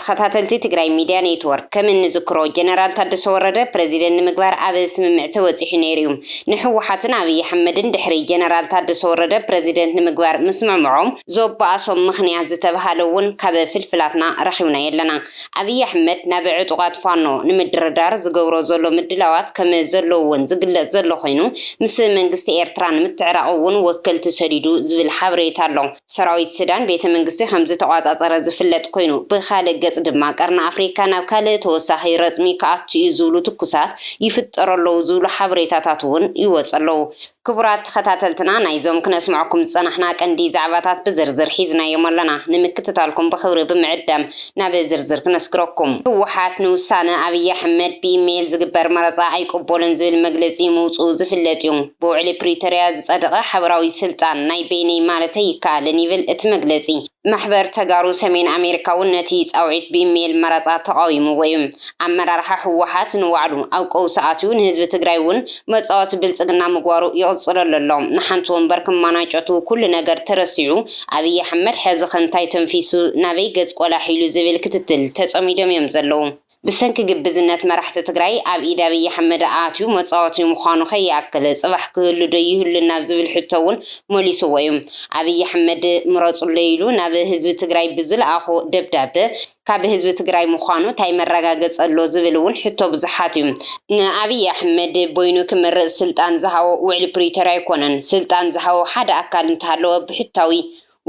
ተኸታተልቲ ትግራይ ሚድያ ኔትዎርክ ከም እንዝክሮ ጀነራል ታደሰ ወረደ ፕረዚደንት ንምግባር ኣብ ስምምዕ ተበፂሑ ነይሩ ዩ። ንህወሓትን ኣብይ ኣሕመድን ድሕሪ ጀነራል ታደሰ ወረደ ፕረዚደንት ንምግባር ምስምዕምዖም ዘባኣሶም ምኽንያት ዝተብሃለ ውን ካብ ፍልፍላትና ረኺብናዮ ኣለና። ኣብይ ኣሕመድ ናብ ዕጡቓት ፋኖ ንምድርዳር ዝገብሮ ዘሎ ምድላዋት ከም ዘሎ ውን ዝግለፅ ዘሎ ኾይኑ ምስ መንግስቲ ኤርትራ ንምትዕራቕ ውን ወከልቲ ሰዲዱ ዝብል ሓበሬታ ኣሎ። ሰራዊት ሱዳን ቤተ መንግስቲ ከምዝተቖጻጸረ ዝፍለጥ ኮይኑ፣ ብኻልእ ገጽ ድማ ቀርኒ ኣፍሪካ ናብ ካልእ ተወሳኺ ረጽሚ ክኣቱ'ዩ ዝብሉ ትኩሳት ይፍጠሩ ኣለዉ ዝብሉ ሓበሬታታት እውን ይወጹ ኣለዉ። ክቡራት ተኸታተልትና ናይዞም ክነስምዐኩም ዝጸናሕና ቀንዲ ዛዕባታት ብዝርዝር ሒዝናዮም ኣሎና። ንምክትታልኩም ብኽብሪ ብምዕዳም ናብ ዝርዝር ክነስግረኩም። ህወሓት ንውሳነ ኣብይ ኣሕመድ ብኢሜይል ዝግበር መረጻ ኣይቅቦልን ዝብል መግለጺ ምውጽኡ ዝፍለጥ'ዩ። ብውዕሊ ፕሪቶርያ ዝፀደቐ ሓበራዊ ስልጣን ናይ በይነይ ማለት ኣይከኣልን ይብል እቲ መግለፂ። ማሕበር ተጋሩ ሰሜን ኣሜሪካ እውን ነቲ ፃውዒት ብኢሜይል መረፃ ተቓዊምዎ እዩ። ኣመራርሓ ህወሓት ንባዕሉ ኣብ ቀውሲ ኣትዩ ንህዝቢ ትግራይ እውን መፃወቲ ብልፅግና ምግባሩ ይቕፅለሉ ኣሎ። ንሓንቲ ወንበር ክማናጨቱ ኩሉ ነገር ተረሲዑ ኣብይ ኣሕመድ ሕዚ ከ እንታይ ተንፊሱ ናበይ ገፅ ቆላሕ ኢሉ ዝብል ክትትል ተፀሚዶም እዮም ዘለዉ። ብሰንኪ ግብዝነት መራሕቲ ትግራይ ኣብ ኢድ ኣብይ ኣሕመድ ኣትዩ መፃወቲ ምዃኑ ከይኣክል ፅባሕ ክህሉ ዶ ይህሉን ናብ ዝብል ሕቶ እውን መሊስዎ እዩ። ኣብይ ኣሕመድ ምረፁለይ ኢሉ ናብ ህዝቢ ትግራይ ብዝልኣኾ ደብዳበ ካብ ህዝቢ ትግራይ ምዃኑ ታይ መረጋገፂ ኣሎ ዝብል እውን ሕቶ ብዙሓት እዩ። ንኣብይ ኣሕመድ በይኑ ክመርፅ ስልጣን ዝሃቦ ውዕሊ ፕሪቶርያ ኣይኮነን። ስልጣን ዝሃቦ ሓደ ኣካል እንተሃለወ ብሕታዊ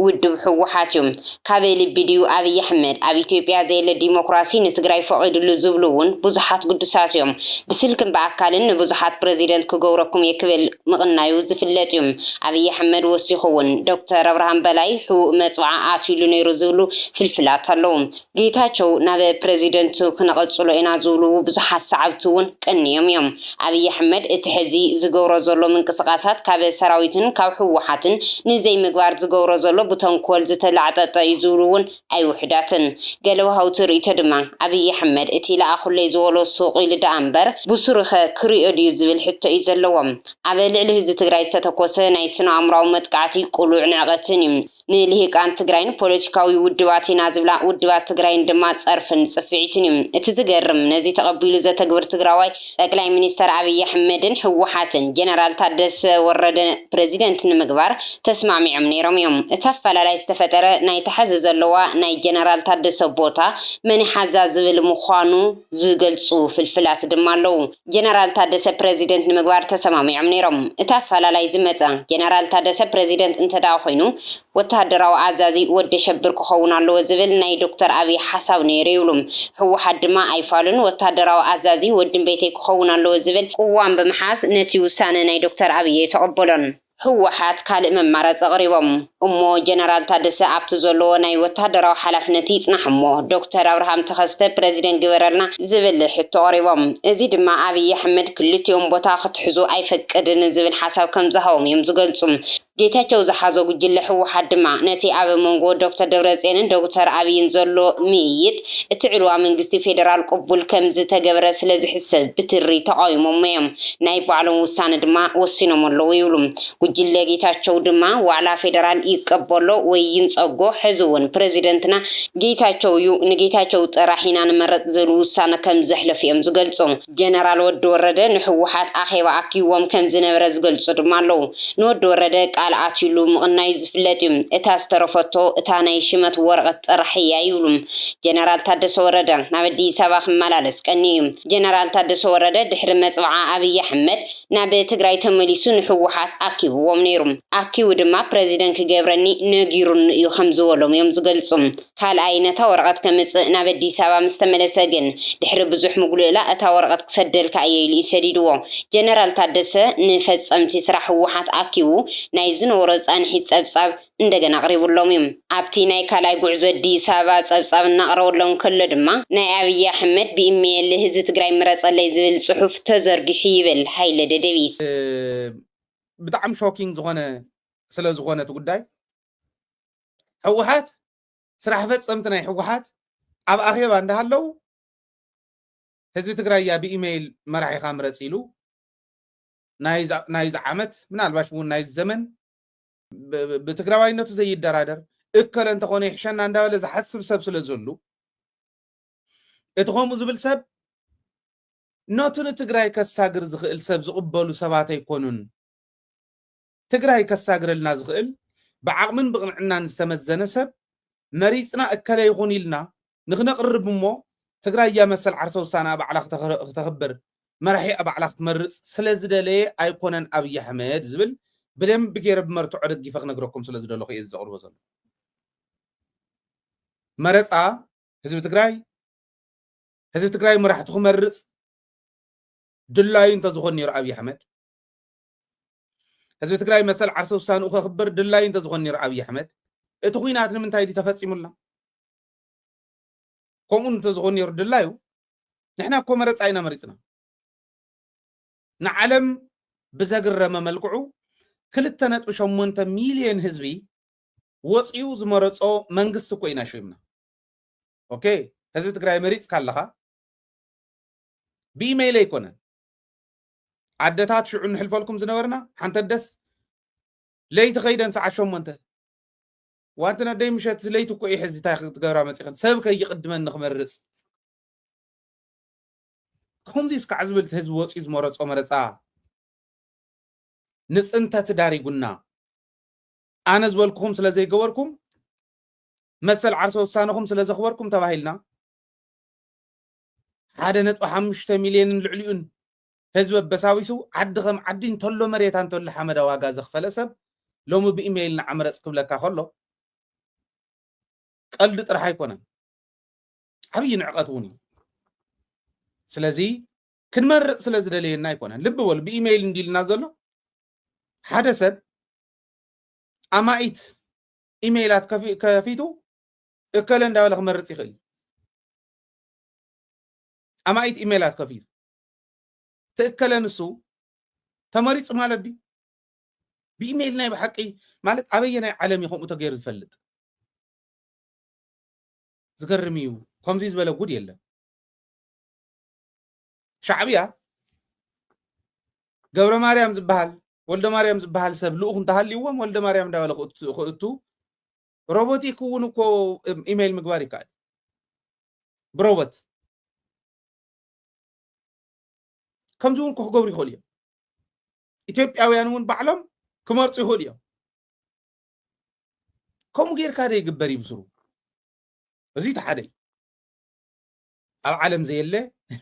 ውድብ ህወሓት ዩ። ካበይ ልቢ ድዩ ኣብይ ኣሕመድ? ኣብ ኢትዮጵያ ዘየለ ዲሞክራሲ ንትግራይ ፈቒድሉ ዝብሉ ውን ብዙሓት ግዱሳት ዮም። ብስልክን ብኣካልን ንብዙሓት ፕረዚደንት ክገብረኩም እየ ክብል ምቕናዩ ዝፍለጥ ዩ። ኣብይ ኣሕመድ ወሲኹ ውን ዶክተር ኣብርሃም በላይ ሕቡእ መፅብዓ ኣትዩሉ ነይሩ ዝብሉ ፍልፍላት ኣለው። ጌታቸው ናብ ፕረዚደንት ክነቐፅሎ ኢና ዝብሉ ብዙሓት ሰዓብቲ ውን ቀንዮም ዮም። ኣብይ ኣሕመድ እቲ ሕዚ ዝገብሮ ዘሎ ምንቅስቃሳት ካብ ሰራዊትን ካብ ህወሓትን ንዘይምግባር ዝገብሮ ዘሎ ብተንኮል ዝተላዕጠጠ እዩ ዝብሉ እውን ኣይውሑዳትን። ገለ ወሃውቲ ርእይቶ ድማ ኣብይ ኣሕመድ እቲ ለኣኹለይ ዝበሎ ሱቕ ኢሉ ደኣ እምበር ብሱሩኸ ክሪኦ ድዩ ዝብል ሕቶ እዩ ዘለዎም። ኣብ ልዕሊ ህዝቢ ትግራይ ዝተተኮሰ ናይ ስነኣእምሮኣዊ መጥቃዕቲ ቅሉዕ ንዕቐትን እዩ። ንልሂቃን ትግራይን ፖለቲካዊ ውድባት ኢና ዝብላ ውድባት ትግራይን ድማ ፀርፍን ፅፍዒትን እዩ። እቲ ዝገርም ነዚ ተቐቢሉ ዘተግብር ትግራዋይ ጠቅላይ ሚኒስተር ኣብይ ኣሕመድን ህወሓትን ጀነራል ታደሰ ወረደ ፕረዚደንት ንምግባር ተስማዕሚዖም ነይሮም እዮም። እቲ ኣፈላላይ ዝተፈጠረ ናይታ ሐዚ ዘለዋ ናይ ጀነራል ታደሰ ቦታ መን ይሓዛ ዝብል ምዃኑ ዝገልፁ ፍልፍላት ድማ ኣለው። ጀነራል ታደሰ ፕረዚደንት ንምግባር ተሰማሚዖም ነይሮም። እቲ ኣፈላላይ ዝመፀ፣ ጀነራል ታደሰ ፕረዚደንት እንተድኣ ኮይኑ ወተሃደራዊ ኣዛዚ ወደሸብር ክኸውን ኣለዎ ዝብል ናይ ዶክተር ኣብይ ሓሳብ ነይሩ ይብሉ። ህወሓት ድማ ኣይፋሉን፣ ወተሃደራዊ ኣዛዚ ወድምቤተይ ክኸውን ኣለዎ ዝብል ቅዋም ብምሓዝ ነቲ ውሳነ ናይ ዶክተር ኣብይ ኣይተቐበሎን። ህወሓት ካልእ መማረፂ ኣቕሪቦም እሞ ጀነራል ታደሰ ኣብቲ ዘለዎ ናይ ወታደራዊ ሓላፍነት ይፅናሕ እሞ ዶክተር ኣብርሃም ተኸስተ ፕረዚደንት ግበረልና ዝብል ሕቶ ኣቕሪቦም። እዚ ድማ ኣብይ ኣሕመድ ክልቲኦም ቦታ ክትሕዙ ኣይፈቅድን ዝብል ሓሳብ ከምዝሃቦም እዮም ዝገልፁ። ጌታቸው ዝሓዞ ጉጅለ ህወሓት ድማ ነቲ ኣብ መንጎ ዶክተር ደብረፅዮንን ዶክተር ኣብይን ዘሎ ምይይጥ እቲ ዕልዋ መንግስቲ ፌደራል ቅቡል ከምዝተገበረ ስለዝሕሰብ ብትሪ ተቓዊሞሞ'ዮም። ናይ ባዕሎም ውሳነ ድማ ወሲኖሞ ኣለዉ ይብሉ። ጉጅለ ጌታቸው ድማ ዋዕላ ፌደራል ይቀበሎ ወይ ይንጸጎ ሕዚ'ውን ፕረዚደንትና ጌታቸው'ዩ፣ ንጌታቸው ጥራሕ ኢና ንመረጽ ዝብል ውሳነ ከምዘሕለፉ'ዮም ዝገልጹ። ጀነራል ወዲ ወረደ ንህወሓት ኣኼባ ኣኪብዎም ከም ዝነበረ ዝገልጹ ድማ ኣለዉ። ንወዲ ወረደ ቃል ኣትዩሉ ምቕናዩ ዝፍለጥ እዩ። እታ ዝተረፈቶ እታ ናይ ሽመት ወረቐት ጥራሕ እያ ይብሉ ጀነራል ታደሰ ወረደ። ናብ ኣዲስ ኣበባ ክመላለስ ቀንዩ እዩ። ጀነራል ታደሰ ወረደ ድሕሪ መጽብዓ ኣብይ ኣሕመድ ናብ ትግራይ ተመሊሱ ንህወሓት ኣኪብዎም ነይሩ። ኣኪቡ ድማ ፕረዚደን ክገብረኒ ነጊሩኒ እዩ ከም ዝበሎም እዮም ዝገልጹ። ካልኣይ ነታ ወረቐት ከምጽእ ናብ ኣዲስ ኣበባ ምስ ተመለሰ ግን፣ ድሕሪ ብዙሕ ምጉልእላእ እታ ወረቐት ክሰደልካ እየ ኢሉ እዩ ሰዲድዎ። ጀነራል ታደሰ ንፈጸምቲ ስራሕ ህወሓት ኣኪቡ ናይ ዝነበሮ ጻንሒት ጸብጻብ እንደገና ኣቕሪቡሎም እዩ። ኣብቲ ናይ ካልኣይ ጉዕዞ ኣዲስ ኣበባ ጸብጻብ እናቕረበሎም ከሎ ድማ፣ ናይ ኣብይ ኣሕመድ ብኢመይል ህዝቢ ትግራይ ምረጸለይ ዝብል ጽሑፍ ተዘርጊሑ ይብል ሃይለ ደደቢት። ብጣዕሚ ሾኪንግ ዝኾነ ስለዝኾነ እቲ ጉዳይ ሕወሓት ስራሕ ፈፀምቲ ናይ ሕወሓት ኣብ ኣኼባ እንዳሃለው ህዝቢ ትግራይ እያ ብኢመይል መራሒኻ ምረፅ ኢሉ ናይዚ ዓመት ምናልባሽ እውን ናይዚ ዘመን ብትግራዋይነቱ ዘይደራደር እከለ እንተኾነ ይሕሸና እንዳበለ ዝሓስብ ሰብ ስለ ዘሉ እቲ ከምኡ ዝብል ሰብ ነቱ ንትግራይ ከሳግር ዝኽእል ሰብ ዝቕበሉ ሰባት ኣይኮኑን ትግራይ ከሳግረልና ዝኽእል ብዓቕምን ብቕንዕናን ዝተመዘነ ሰብ መሪፅና እከለ ይኹን ኢልና ንክነቕርብ እሞ ትግራያ መሰል ዓርሰ ውሳነኣ ባዕላ ክተኽብር መራሒኣ ባዕላ ክትመርፅ ስለዝደለየ ኣይኮነን ኣብይ ኣሕመድ ዝብል ብደንቢ ገይረ ብመርትዖ ደጊፈ ክነግረኩም ስለ ዝደለኹ እየ ዘቕርቦ ዘሎ መረፃ ህዝቢ ትግራይ ህዝቢ ትግራይ መራሕቲ ክመርፅ ድላዩ እንተዝኾን ነይሩ ኣብይ ኣሕመድ ህዝቢ ትግራይ መሰል ዓርሰ ውሳንኡ ከኽብር ድላዩ እንተዝኾን ነይሩ ኣብዪ ኣሕመድ እቲ ኩናት ንምንታይ ድዩ ተፈፂሙልና ከምኡ እንተዝኾን ነይሩ ድላዩ ንሕና እኮ መረፃ ኢና መሪፅና ንዓለም ብዘግረመ መልክዑ ክልተ ነጥቢ ሸሞንተ ሚልዮን ህዝቢ ወፂኡ ዝመረፆ መንግስቲ እኮ ኢና ሸይምና ኦኬ ህዝቢ ትግራይ መሪፅካ ኣለኻ ብኢመይል ኣይኮነን ኣደታት ሽዑ ንሕልፈልኩም ዝነበርና ሓንቲ ኣደስ ለይቲ ከይደን ሰዓት ሸሞንተ ዋንቲ ነደይ ምሸት ለይቲ እኮ እዩ ሕዚ እንታይ ክትገብራ መፂኽን ሰብ ከይቕድመን ንክመርፅ ከምዚ እስካዕ ዝብል ህዝቢ ወፅዩ ዝመረፆ መረፃ ንፅንተት ዳሪጉና ኣነ ዝበልኩኹም ስለ ዘይገበርኩም መሰል ዓርሰ ውሳነኹም ስለ ዘኽበርኩም ተባሂልና ሓደ ነጥቢ ሓሙሽተ ሚልዮንን ልዕሊኡን ህዝቢ ኣበሳቢሱ ዓዲ ከም ዓዲ እንተሎ መሬታ እንተሎ ሓመዳ ዋጋ ዘኽፈለ ሰብ ሎሚ ብኢመይል ንዓ ምረጽ ክብለካ ከሎ ቀልዲ ጥራሕ ኣይኮነን ዓብዪ ንዕቐት እውን እዩ ስለዚ ክንመርፅ ስለ ዝደለየና ኣይኮነን ልቢ በሉ ብኢመይል እንዲልና ዘሎ ሓደ ሰብ ኣማኢት ኢመይላት ከፊቱ እከለ እንዳበለ ክመርፅ ይኽእል ኣማኢት ኢሜላት ከፊቱ ተእከለ ንሱ ተመሪፁ ማለት ድዩ ብኢሜይል ናይ ብሓቂ ማለት ኣበየናይ ዓለም እዩ ከምኡ ተገይሩ ዝፈልጥ ዝገርም እዩ ከምዚ ዝበለ ጉድ የለን ሻዕብያ ገብረ ማርያም ዝበሃል ወልደ ማርያም ዝበሃል ሰብ ልኡኽ እንተሃልይዎም ወልደ ማርያም እንዳበለ ክእቱ ሮቦቲክ እውን እኮ ኢሜይል ምግባር ይከኣል ብሮቦት ከምዚ እውን ክክገብሩ ይኽእሉ እዮም ኢትዮጵያውያን እውን ባዕሎም ክመርፁ ይኽእሉ እዮም ከምኡ ጌርካ ዶ ይግበር እዩ ብስሩ እዚ እቲ ሓደ እዩ ኣብ ዓለም ዘየለ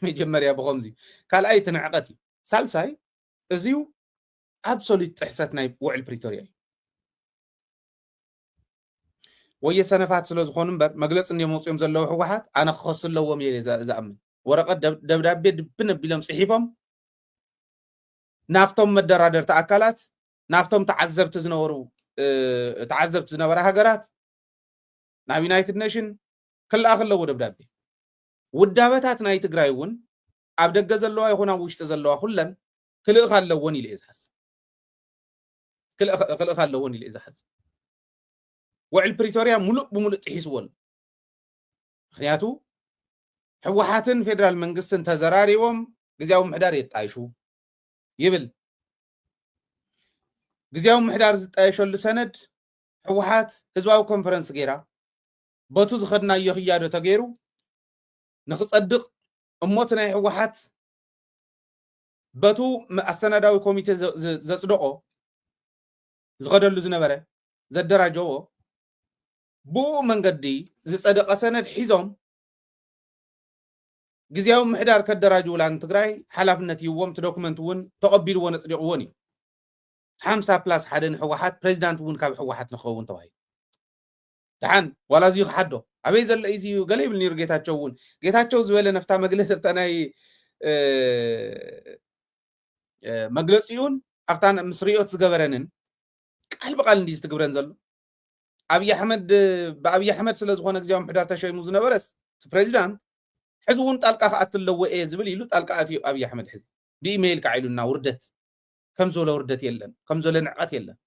መጀመርያ ብከምዚ ካልኣይ እቲ ንዕቀት እዩ ሳልሳይ እዚዩ ኣብሶሉት ጥሕሰት ናይ ውዕል ፕሪቶሪያ እዩ ወየ ሰነፋት ስለዝኾኑ እምበር መግለፂ እንድዮም ኣውፅኦም ዘለዉ ህወሓት ኣነ ክኸሱ ኣለዎም እየ ዝኣምን ወረቐት ደብዳቤ ድብን ኣቢሎም ፅሒፎም ናብቶም መደራደርቲ ኣካላት ናብቶም ተዓዘብቲ ዝነበሩ ተዓዘብቲ ዝነበራ ሃገራት ናብ ዩናይትድ ኔሽን ክልኣኽ ኣለዎ ደብዳቤ ውዳበታት ናይ ትግራይ እውን ኣብ ደገ ዘለዋ ይኹን ኣብ ውሽጢ ዘለዋ ኩለን ክልእኽ ኣለዎን ኢሉ እየ ዝሓስብ ክልእ ክልእካ ኣለዎን ኢለ ዝሓስብ ውዕል ፕሪቶርያ ሙሉእ ብሙሉእ ጥሒስዎ ኣሎ ምክንያቱ ህወሓትን ፌደራል መንግስትን ተዘራሪቦም ግዜያዊ ምሕዳር የጣይሹ ይብል ግዜያዊ ምሕዳር ዝጣየሸሉ ሰነድ ህወሓት ህዝባዊ ኮንፈረንስ ገይራ በቱ ዝኸድናዮ ክያዶ ተገይሩ ንክፀድቕ እሞት ናይ ህወሓት በቱ ኣሰናዳዊ ኮሚቴ ዘጽደቖ ዝኸደሉ ዝነበረ ዘደራጀዎ ብኡ መንገዲ ዝጸደቐ ሰነድ ሒዞም ግዜያዊ ምሕዳር ከደራጅውላ ንትግራይ ሓላፍነት ይዎም ትዶኩመንት እውን ተቐቢልዎ ነጽዲቕዎን እዩ ሓምሳ ፕላስ ሓደ ንሕወሓት ፕሬዚዳንት እውን ካብ ሕወሓት ንክኸውን ተባሂሉ ደሓን ዋላ እዚዩ ክሓዶ ኣበይ ዘሎ እዩ እዚዩ ገለ ይብል ነይሩ ጌታቸው እውን ጌታቸው ዝበለ ነፍታ መግለፂ ኣብታ ናይ መግለፂኡን ኣብታ ምስ ሪኦት ዝገበረንን ቃል ብቃል እንዲ ዝትግብረን ዘሎ ኣብይ ኣሕመድ ብኣብይ ኣሕመድ ስለ ዝኾነ ግዜያዊ ምሕዳር ተሸይሙ ዝነበረስ እቲ ፕሬዚዳንት ሕዚ እውን ጣልቃ ክኣት ኣለዎ እየ ዝብል ኢሉ ጣልቃ ኣትዩ ኣብይ ኣሕመድ ሕዚ ብኢሜይል ከዓ ኢሉና ውርደት ከም ዝበለ ውርደት የለን ከም ዝበለ ንዕቀት የለን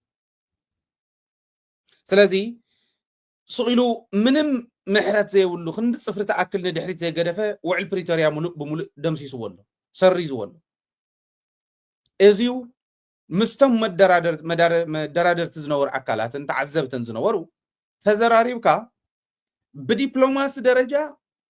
ስለዚ ሱቕ ኢሉ ምንም ምሕረት ዘይብሉ ክንዲ ፅፍሪ ተኣክል ንድሕሪት ዘይገደፈ ውዕል ፕሪቶርያ ሙሉእ ብሙሉእ ደምሲስዎ ኣሎ ሰሪዝዎ ኣሎ እዚዩ ምስቶም መደራደርቲ ዝነበሩ ኣካላትን ተዓዘብትን ዝነበሩ ተዘራሪብካ ብዲፕሎማሲ ደረጃ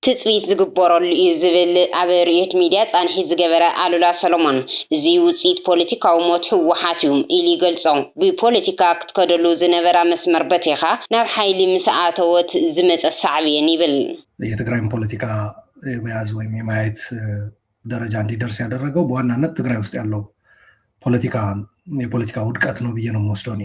ትጽቢት ዝግበረሉ እዩ ዝብል ኣብ ርእዮት ሚድያ ፃንሒት ዝገበረ ኣሉላ ሰሎሞን፣ እዙይ ውፅኢት ፖለቲካዊ ሞት ህወሓት እዩ ኢሉ ይገልፆ። ብፖለቲካ ክትከደሉ ዝነበራ መስመር በቲኻ ናብ ሓይሊ ምስ ኣተወት ዝመፀ ሳዕቤን ይብል። የትግራይን ፖለቲካ የመያዝ ወይም የመያየት ደረጃ እንዲደርስ ያደረገው በዋናነት ትግራይ ውስጥ ያለው ፖለቲካ የፖለቲካ ውድቀት ነው ብዬ ነው የምወስደው እኔ።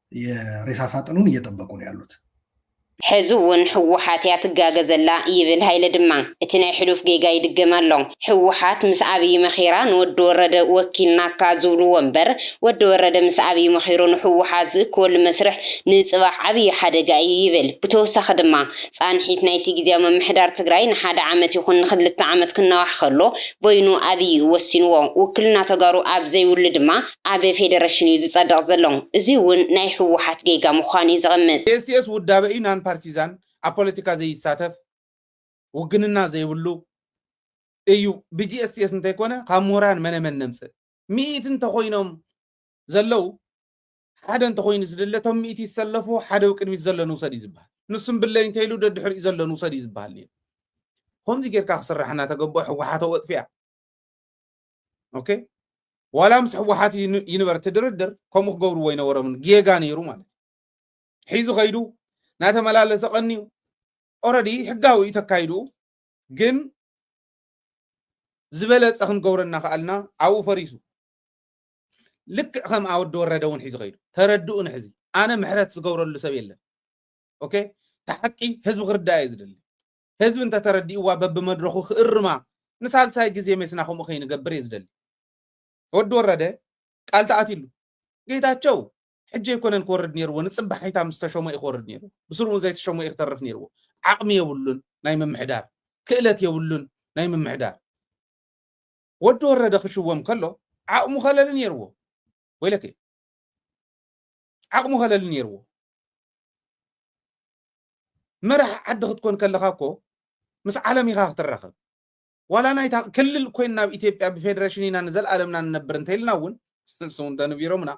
የሬሳ ሳጥኑን እየጠበቁ ነው ያሉት። ሕዚ ውን ህወሓት እያ ትጋገ ዘላ ይብል ሃይለ ድማ እቲ ናይ ሕሉፍ ጌጋ ይድገም ኣሎ ህወሓት ምስ ኣብይ መኺራ ንወዲ ወረደ ወኪልናካ ዝብልዎ እምበር ወዲ ወረደ ምስ ኣብይ መኺሩ ንህወሓት ዝእክበሉ መስርሕ ንፅባሕ ዓብይ ሓደጋ እዩ ይብል ብተወሳኺ ድማ ፃንሒት ናይቲ ግዝያዊ ምምሕዳር ትግራይ ንሓደ ዓመት ይኹን ንኽልተ ዓመት ክናዋሕ ከሎ በይኑ ኣብይ እዩ ወሲንዎ ውክልና ተጋሩ ኣብ ዘይብሉ ድማ ኣብ ፌደረሽን እዩ ዝፀድቕ ዘሎ። እዙይ እውን ናይ ህወሓት ጌጋ ምዃኑ እዩ ዘቐምጥ። ኤስቲኤስ ውዳበ እዩ፣ ናን ፓርቲዛን፣ ኣብ ፖለቲካ ዘይሳተፍ፣ ውግንና ዘይብሉ፣ እዩ። ብጂኤስቲኤስ እንተይኮነ ካብ ምሁራን መነ መን ነምፅእ? ሚኢቲ እንተኾይኖም ዘለው ሓደ እንተኾይኑ ዝድለ እቶም ሚኢቲ ይሰለፉ ሓደ ብ ቅድሚት ዘሎ ንውሰድ እዩ ዝበሃል። ንሱ እምብለይ እንተይሉ ደድሕሪኡ ዘሎ ንውሰድ እዩ ዝበሃል ነይሩ። ብኸምዙይ ጌርካ ክስራሕ እናተገበኦ ህወሓት ኣወጥፊኣ። ኦኬ ዋላ ምስ ሕወሓት ይንበር እቲ ድርድር ከምኡ ክገብርዎ ይነበሮምን ጌጋ ነይሩ ማለት እዩ ሒዙ ከይዱ ናተመላለሰ ቀንዩ ኦረዲ ሕጋዊ እዩ ተካይዱ ግን ዝበለፀ ክንገብሮ እናኸኣልና ኣብኡ ፈሪሱ ልክዕ ከም ኣወዲ ወረደ እውን ሒዙ ከይዱ ተረድኡ ንሕዚ ኣነ ምሕረት ዝገብረሉ ሰብ የለን ኦኬ ተሓቂ ህዝቢ ክርዳእ እየ ዝደሊ ህዝቢ እንተተረዲእዋ በብመድረኹ ክእርማ ንሳልሳይ ግዜ ሜስና ከምኡ ከይንገብር እየ ዝደሊ። ወዲ ወረደ ቃል ተኣትሉ። ጌታቸው ሕጂ ኣይኮነን ክወርድ ነይርዎ ንጽባሒታ ምስ ተሾመ እዩ ክወርድ ነይርዎ። ብስሩ እውን ዘይተሸሞ እዩ ክተርፍ ነይርዎ። ዓቕሚ የብሉን ናይ ምምሕዳር፣ ክእለት የብሉን ናይ ምምሕዳር። ወዲ ወረደ ክሽወም ከሎ ዓቕሙ ከለሊ ነይርዎ። ወይለከ ዓቕሙ ከለሊ ነይርዎ። መራሒ ዓዲ ክትኮን ከለኻ እኮ ምስ ዓለም ኢኻ ክትራኸብ ዋላ ናይታ ክልል ኮይንና ኣብ ኢትዮጵያ ብፌደሬሽን ኢና ንዘለኣለምና ንነብር እንተኢልና እውን ንሱ እንተንቢሮምና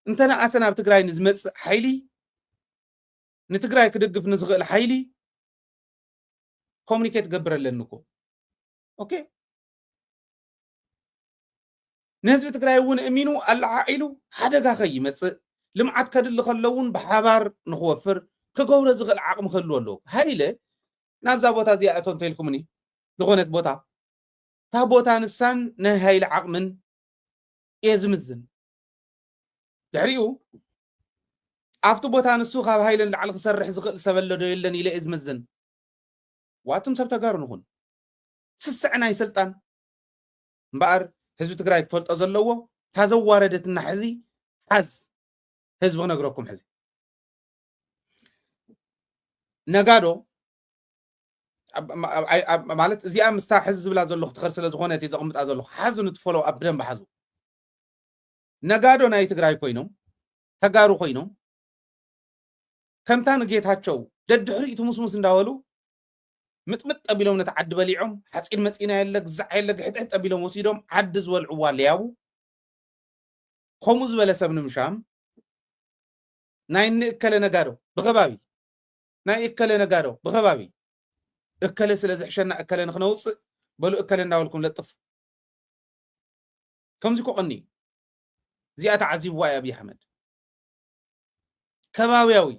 እንተነኣሰ ናብ ትግራይ ንዝመፅእ ሓይሊ ንትግራይ ክድግፍ ንዝኽእል ሓይሊ ኮሚኒኬት ገብር ኣለኒ እኮ ኦኬ ንህዝቢ ትግራይ እውን እሚኑ ኣለዓዒሉ ሓደጋ ከይመፅእ ልምዓት ከድሊ ከሎ እውን ብሓባር ንክወፍር ክገብሮ ዝኽእል ዓቕሚ ክህልዎ ኣለዎ። ሃይለ ናብዛ ቦታ እዚኣ እቶ እንተኢልኩምኒ ዝኾነት ቦታ እታ ቦታ ንሳን ናይ ሃይለ ዓቕምን እየ ዝምዝን። ድሕሪኡ ኣብቲ ቦታ ንሱ ካብ ሃይለ ንላዕሊ ክሰርሕ ዝኽእል ሰብ ኣሎ ዶ የለን ኢለ እየ ዝምዝን። ዋትም ሰብ ተጋሩ ንኹን ስስዐ ናይ ስልጣን እምበኣር ህዝቢ ትግራይ ክፈልጦ ዘለዎ እታ ዘዋረደትና ሕዚ ሓዝ ህዝቢ ክነግረኩም ሕዚ ነጋዶ ማለት እዚኣ ምስታ ሕዚ ዝብላ ዘለኹ ትኸር ስለ ዝኾነ እቲ ዘቕምጣ ዘለኹ ሓዙ ንትፈሎ ኣብ ብደንብ ሓዙ ነጋዶ ናይ ትግራይ ኮይኖም ተጋሩ ኮይኖም ከምታ ንጌታቸው ደድሕሪኡ ትሙስሙስ እንዳበሉ ምጥምጥ ኣቢሎም ነቲ ዓዲ በሊዖም፣ ሓጺን መጺን ኣየለ ግዛዕ ኣየለ ግሕጥሕጥ ኣቢሎም ወሲዶም ዓዲ ዝበልዕዋ ሌያቡ ከምኡ ዝበለ ሰብ ንምሻም ናይ እኒ እከለ ነጋዶ ብኸባቢ ናይ እከለ ነጋዶ ብኸባቢ እከለ ስለ ዝሕሸና እከለ ንክነውፅእ በሉ እከለ እንዳበልኩም ለጥፉ ከምዚ ኮቐኒ እዩ እዚኣ ተዓዚብዋ እዩ ኣብዪ ኣሕመድ ከባብያዊ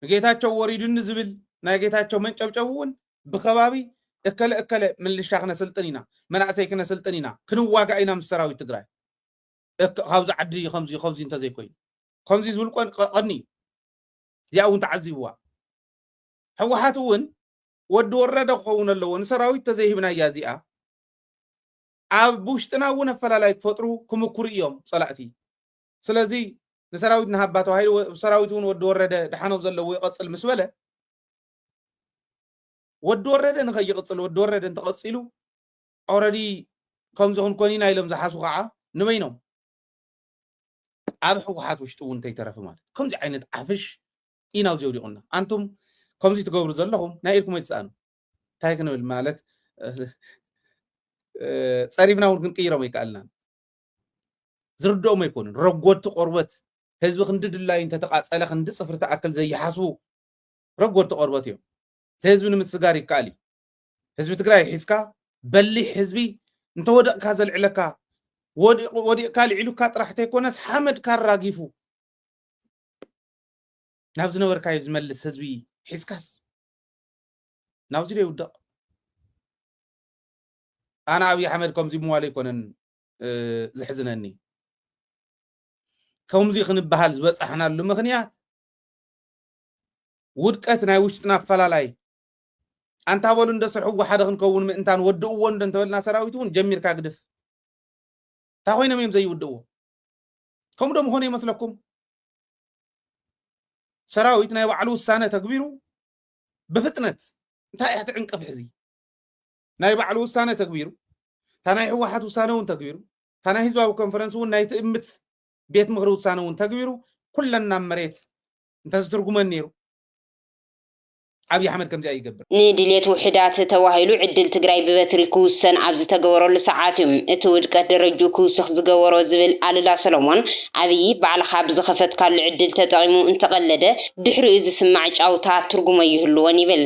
ንጌታቸው ወሪዱኒ ዝብል ናይ ጌታቸው መንጨብጨብ እውን ብከባቢ እከለ እከለ ምልሻ ክነስልጥን ኢና መናእሰይ ክነስልጥን ኢና ክንዋጋእ ኢና ምስ ሰራዊት ትግራይ ካብዚ ዓዲ ከምዚ ከምዚ እንተዘይኮይኑ ከምዚ ዝብል ቀኒ እዩ እዚኣ እውን ተዓዚብዋ ህወሓት እውን ወዲ ወረደ ክኸውን ኣለዎ ንሰራዊት ተዘይህብናያ እዚኣ ኣብ ውሽጥና እውን ኣፈላላይ ክፈጥሩ ክምኩሩ እዮም ፀላእቲ ስለዚ ንሰራዊት ንሃባ ተባሂሉ ሰራዊት እውን ወዲ ወረደ ድሓኖም ዘለዎ ይቐፅል ምስ በለ ወዲ ወረደ ንኸይቕፅል ወዲ ወረደ እንተቐፂሉ ኦረዲ ከምዚ ክንኮን ኢና ኢሎም ዝሓሱ ከዓ ንበይኖም ኣብ ሕወሓት ውሽጢ እውን እንተይተረፈ ማለት ከምዚ ዓይነት ዓፍሽ ኢና ኣብዚ ወዲቑና ኣንቱም ከምዚ ትገብሩ ዘለኹም ናይ ኢድኩም ኣይትስኣኑ እንታይ ክንብል ማለት ፀሪፍና እውን ክንቅይሮም ኣይከኣልናን ዝርድኦም ኣይኮኑን። ረጎድቲ ቆርበት ህዝቢ ክንዲ ድላዩ እንተተቓፀለ ክንዲ ፅፍሪ ትኣክል ዘይሓስቡ ረጎድቲ ቆርበት እዮም። ህዝቢ ንምስጋር ይከኣል እዩ። ህዝቢ ትግራይ ሒዝካ በሊሕ ህዝቢ እንተወደቕካ ዘልዕለካ ወዲቕካ ልዒሉካ ጥራሕ ተይኮነስ ሓመድካ ኣራጊፉ ናብ ዝነበርካዮ ዝመልስ ህዝቢ ሒዝካስ ናብዚ ዶ ይውደቕ ኣነ ኣብዪ ኣሕመድ ከምዚ ምዋሉ ኣይኮነን ዘሕዝነኒ ከምዚ ክንበሃል ዝበፃሕናሉ ምክንያት ውድቀት ናይ ውሽጥና ኣፈላላይ ኣንታ በሉ እንደ ስርሕዎ ሓደ ክንከውን ምእንታን ወድእዎ እንደ እንተበልና ሰራዊት እውን ጀሚርካ ግድፍ እንታይ ኮይኖም እዮም ዘይውድእዎ ከምኡ ዶ ምኾነ ይመስለኩም ሰራዊት ናይ ባዕሉ ውሳነ ተግቢሩ ብፍጥነት እንታይ እያ ትዕንቅፍ ሕዚ ናይ ባዕሉ ውሳነ ተግቢሩ እታ ናይ ህወሓት ውሳነ እውን ተግቢሩ እታ ናይ ህዝባዊ ኮንፈረንስ እውን ናይ ትእምት ቤት ምክሪ ውሳነ እውን ተግቢሩ ኩለን ናብ መሬት እንተዝትርጉመን ነይሩ ኣብዪ ኣሕመድ ከምዚኣ ይገብር ንድሌት ውሑዳት ተባሂሉ ዕድል ትግራይ ብበትሪ ክውሰን ኣብ ዝተገበረሉ ሰዓት እዩ እቲ ውድቀት ደረጅኡ ክውስኽ ዝገበሮ ዝብል ኣሉላ ሰሎሞን፣ ኣብዪ ባዕልኻ ብዝኸፈትካሉ ዕድል ተጠቒሙ እንተቐለደ ድሕሪኡ ዝስማዕ ጫውታ ትርጉሞ ኣይህልዎን ይብል።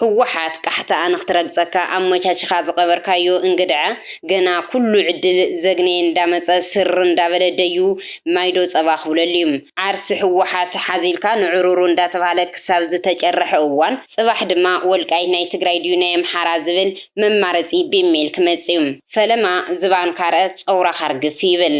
ህወሓት ቃሕታኣ ንክትረግፀካ ኣመቻቺኻ ዝቐበርካዮ እንግድዐ ገና ኩሉ ዕድል ዘግነየ እንዳመፀ ስር እንዳበለ ደዩ ማይ ዶ ፀባ ክብለሉ እዩ። ዓርሲ ህወሓት ሓዚልካ ንዕሩሩ እንዳተብሃለ ክሳብ ዝተጨረሐ እዋን ፅባሕ ድማ ወልቃይት ናይ ትግራይ ድዩ ናይ ኣምሓራ ዝብል መማረፂ ቢም ሜል ክመፅ እዩ። ፈለማ ዝባንካ ርእ ፀውራኻ ርግፍ ይብል።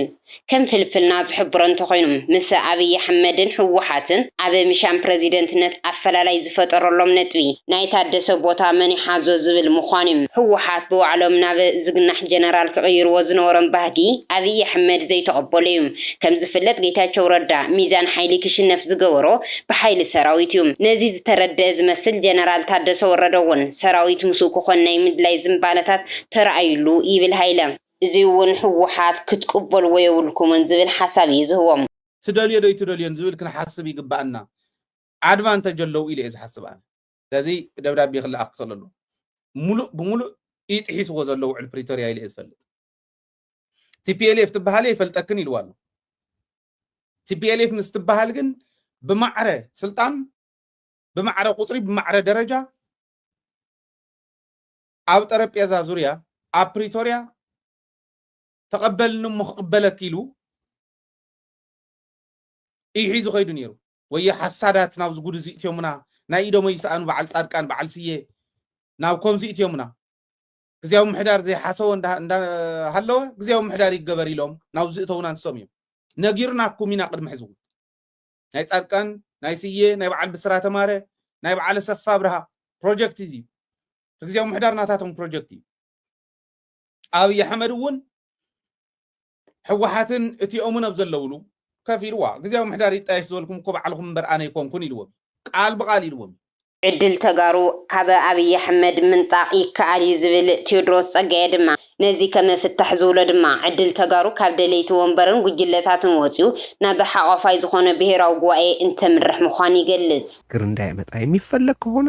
ከም ፍልፍልና ዝሕብሮ እንተኾይኑ፣ ምስ ኣብይ ኣሕመድን ህወሓትን ኣብ ምሻም ፕረዚደንትነት ኣፈላላይ ዝፈጠረሎም ነጥቢ፣ ናይ ታደሰ ቦታ መን ይሓዞ ዝብል ምዃኑ ዩ። ህወሓት ብባዕሎም ናብ ዝግናሕ ጀነራል ክቕይርዎ ዝነበሮም ባህጊ ኣብይ ኣሕመድ ዘይተቐበሎ ዩ። ከም ዝፍለጥ ጌታቸው ረዳ ሚዛን ሓይሊ ክሽነፍ ዝገበሮ ብሓይሊ ሰራዊት ዩ። ነዚ ዝተረደኣ ዝመስል ጀነራል ታደሰ ወረደ ውን ሰራዊት ምስኡ ክኾን ናይ ምድላይ ዝንባለታት ተራእዩሉ ይብል ሃይለ። እዙይ እውን ህወሓት ክትቅበልዎ የብልኩምን ዝብል ሓሳብ እዩ ዝህቦም። ትደልዮ ዶ ኣይትደልዮን ዝብል ክንሓስብ ይግበኣና ኣድቫንተጅ ኣለው ኢለ እየ ዝሓስብ ኣነ። ስለዚ ደብዳቤ ክለኣኽ ክኽእል ኣለዎ። ሙሉእ ብሙሉእ እዩ ጥሒስዎ ዘሎ ውዕል ፕሪቶርያ ኢለ እየ ዝፈልጥ። ቲፒኤልኤፍ ትበሃሊ ኣይፈልጠክን ኢልዋ ኣሎ። ቲፒኤልኤፍ ምስ ትበሃል ግን ብማዕረ ስልጣን፣ ብማዕረ ቁፅሪ፣ ብማዕረ ደረጃ ኣብ ጠረጴዛ ዙርያ ኣብ ፕሪቶርያ ተቐበልኒ እሞ ክቕበለኪ ኢሉ እዩ ሒዙ ከይዱ ነይሩ። ወዮ ሓሳዳት ናብዚ ጉድ እዚ እትዮሙና ናይ ኢዶሞ ይስኣኑ በዓል ጻድቃን በዓል ስየ ናብ ኮምዚ እትዮሙና ግዝያዊ ምሕዳር ዘይሓሰወ እንዳሃለወ ግዝያዊ ምሕዳር ይገበር ኢሎም ናብ ዝእተውና ንሶም እዮም ነጊርናኩም ኢና ቅድሚ ሕዝቡ ናይ ጻድቃን ናይ ስየ ናይ በዓል ብስራተ ማረ ናይ በዓል ኣሰፋ ብርሃ ፕሮጀክት እዚ እዩ ግዜያዊ ምሕዳር ናታቶም ፕሮጀክት እዩ ኣብይ ኣሕመድ እውን ሕወሓትን እቲኦምን ኣብ ዘለውሉ ከፍ ኢልዋ ግዜያዊ ምሕዳር ይጣየሽ ዝበልኩም እኮ ባዕልኹም እምበር ኣነ ኣይኮንኩን ኢልዎም ቃል ብቃል ኢልዎም ዕድል ተጋሩ ካብ ኣብይ ኣሕመድ ምንጣቕ ይከኣል እዩ ዝብል ቴዎድሮስ ፀጋየ ድማ ነዚ ከም ፍታሕ ዝብሎ ድማ ዕድል ተጋሩ ካብ ደለይቲ ወንበርን ጉጅለታትን ወፂኡ ናብ ሓቋፋይ ዝኾነ ብሄራዊ ጉባኤ እንተምርሕ ምዃኑ ይገልፅ። ግር እንዳይመጣ የሚፈለግ ከሆነ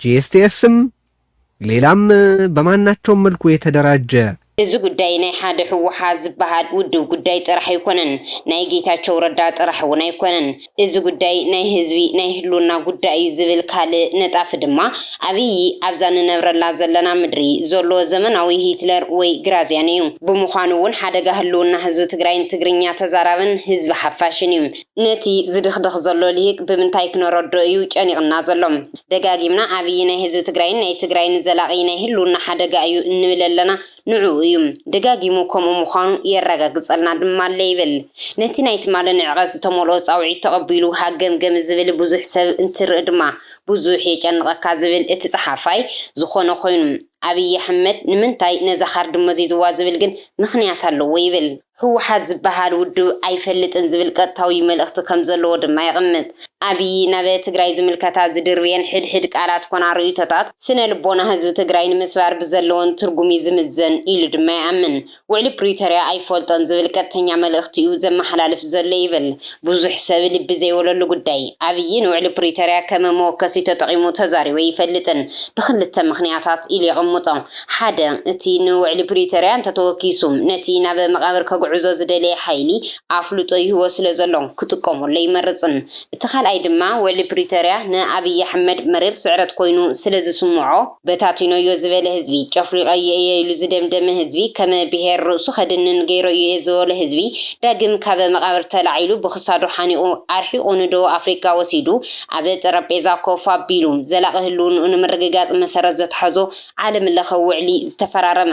ጂኤስቲኤስም ሌላም በማናቸውም መልኩ የተደራጀ። እዚ ጉዳይ ናይ ሓደ ህወሓት ዝበሃል ውድብ ጉዳይ ጥራሕ ኣይኮነን፣ ናይ ጌታቸው ረዳ ጥራሕ እውን ኣይኮነን። እዚ ጉዳይ ናይ ህዝቢ ናይ ህልውና ጉዳይ እዩ ዝብል ካልእ ነጣፊ ድማ ኣብይ ኣብዛ ንነብረላ ዘለና ምድሪ ዘሎ ዘመናዊ ሂትለር ወይ ግራዝያን እዩ። ብምዃኑ እውን ሓደጋ ህልውና ህዝቢ ትግራይን ትግርኛ ተዛራብን ህዝቢ ሓፋሽን እዩ። ነቲ ዝድኽድኽ ዘሎ ሊሂቅ ብምንታይ ክነረድኦ እዩ ጨኒቕና ዘሎ? ደጋጊምና ዓብዪ ናይ ህዝቢ ትግራይን ናይ ትግራይን ዘላቒ ናይ ህልውና ሓደጋ እዩ እንብል ኣለና። ንዕኡ እዩ። ደጋጊሙ ከምኡ ምዃኑ የረጋግፀልና ድማ ኣሎ ይብል። ነቲ ናይ ትማሊ ንዕቐት ዝተመልኦ ፃውዒት ተቐቢሉ ሃገምገም ዝብል ብዙሕ ሰብ እንትርኢ ድማ ብዙሕ የጨንቐካ ዝብል እቲ ፀሓፋይ ዝኾነ ኮይኑ፣ ኣብዪ ኣሕመድ ንምንታይ ነዛ ካርዲ መዚዙዋ ዝብል ግን ምኽንያት ኣለዎ ይብል። ህወሓት ዝበሃል ውድብ ኣይፈልጥን ዝብል ቀጥታዊ መልእኽቲ ከም ዘለዎ ድማ የቕምጥ። ኣብዪ ናብ ትግራይ ዝምልከታ ዝድርብየን ሕድሕድ ቃላት ኮና ርእይቶታት፣ ስነ ልቦና ህዝቢ ትግራይ ንምስባር ብዘለወን ትርጉም እዩ ዝምዘን ኢሉ ድማ ይኣምን። ውዕሊ ፕሪቶርያ ኣይፈልጦን ዝብል ቀጥተኛ መልእኽቲ እዩ ዘመሓላልፍ ዘሎ ይብል ብዙሕ ሰብ ልቢ ዘይበለሉ ጉዳይ። ኣብዪ ንውዕሊ ፕሪቶርያ ከም መወከሲ ተጠቒሙ ተዛሪቡ ኣይፈልጥን ብኽልተ ምኽንያታት ኢሉ የቕምጦ። ሓደ፣ እቲ ንውዕሊ ፕሪቶርያ እንተተወኪሱ ነቲ ናብ መቓብር ከግዕዞ ዝደለየ ሓይሊ ኣፍልጦ ይህቦ ስለዘሎ ክጥቀመሉ ኣይመርጽን። እቲ ካልኣይ ድማ ውዕሊ ፕሪቶርያ ንኣብይ ኣሕመድ መሪር ስዕረት ኮይኑ ስለዝስምዖ በታቲኖዮ ዝበለ ህዝቢ፣ ጨፍሊቐዮ እየ ኢሉ ዝደምደመ ህዝቢ፣ ከም ብሄር ርእሱ ከድንን ገይረዮ እየ ዝበሎ ህዝቢ ዳግም ካብ መቓብር ተላዒሉ ብክሳዱ ሓኒቑ ኣርሒቑ ንደቡብ ኣፍሪቃ ወሲዱ ኣብ ጠረጴዛ ኮፍ ኣቢሉ ዘላቒ ህልውንኡ ንምርግጋጽ መሰረት ዘትሓዞ ዓለም ለኸ ውዕሊ ዝተፈራረመ።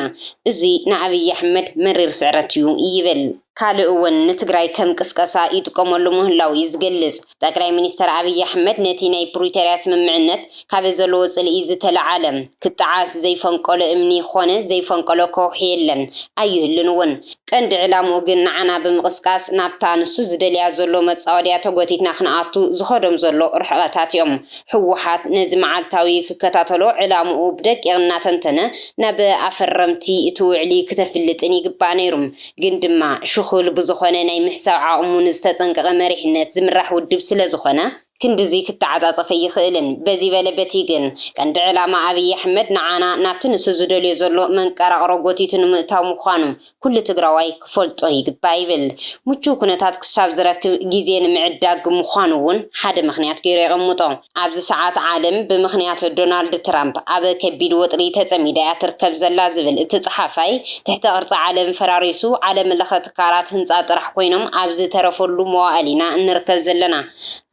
እዙይ ንኣብይ ኣሕመድ መሪር ስዕረት እዩ ይብል። ካልእ እውን ንትግራይ ከም ቅስቀሳ ይጥቀመሉ ምህላዉ እዩ ዝገልፅ። ጠቅላይ ሚኒስትር ኣብይ ኣሕመድ ነቲ ናይ ፕሪቶርያ ስምምዕነት ካብ ዘለዎ ፅልኢ ዝተለዓለ ክጠዓስ ዘይፈንቀሎ እምኒ ኾነ ዘይፈንቀሎ ከውሒ የለን ኣይህሉን እውን። ቀንዲ ዕላምኡ ግን ንዓና ብምቕስቃስ ናብታ ንሱ ዝደልያ ዘሎ መፃወድያ ተጎቲትና ክንኣቱ ዝኸዶም ዘሎ ርሕቐታት እዮም። ህወሓት ነዚ መዓልታዊ ክከታተሎ ዕላምኡ ብደቂቕ እናተንተነ ናብ ኣፈረምቲ እቲ ውዕሊ ክተፍልጥን ይግባእ ነይሩ። ግን ድማ ሽኹል ብዝኾነ ናይ ምሕሳብ ዓቕሙ ንዝተፀንቀቐ መሪሕነት ዝምራሕ ውድብ ስለዝኾነ፣ ክንድዚ ክተዓፃፀፍ ኣይኽእልን። በዚ በለ በቲ ግን ቀንዲ ዕላማ ኣብይ ኣሕመድ ንዓና ናብቲ ንሱ ዝደልዮ ዘሎ መንቀራቕሮ ጎቲቱ ንምእታው ምዃኑ ኩሉ ትግራዋይ ክፈልጦ ይግባእ ይብል። ምቹው ኩነታት ክሳብ ዝረክብ ግዜ ንምዕዳግ ምዃኑ'ውን ሓደ ምኽንያት ገይሩ የቐምጦ። ኣብዚ ሰዓት ዓለም ብምኽንያት ዶናልድ ትራምፕ ኣብ ከቢድ ወጥሪ ተጸሚዳ'ያ ትርከብ ዘላ ዝብል እቲ ጸሓፋይ፣ ትሕተ ቅርጺ ዓለም ፈራሪሱ ዓለምለኸ ትካላት ህንጻ ጥራሕ ኮይኖም ኣብ ዝተረፈሉ መዋእል ኢና እንርከብ ዘለና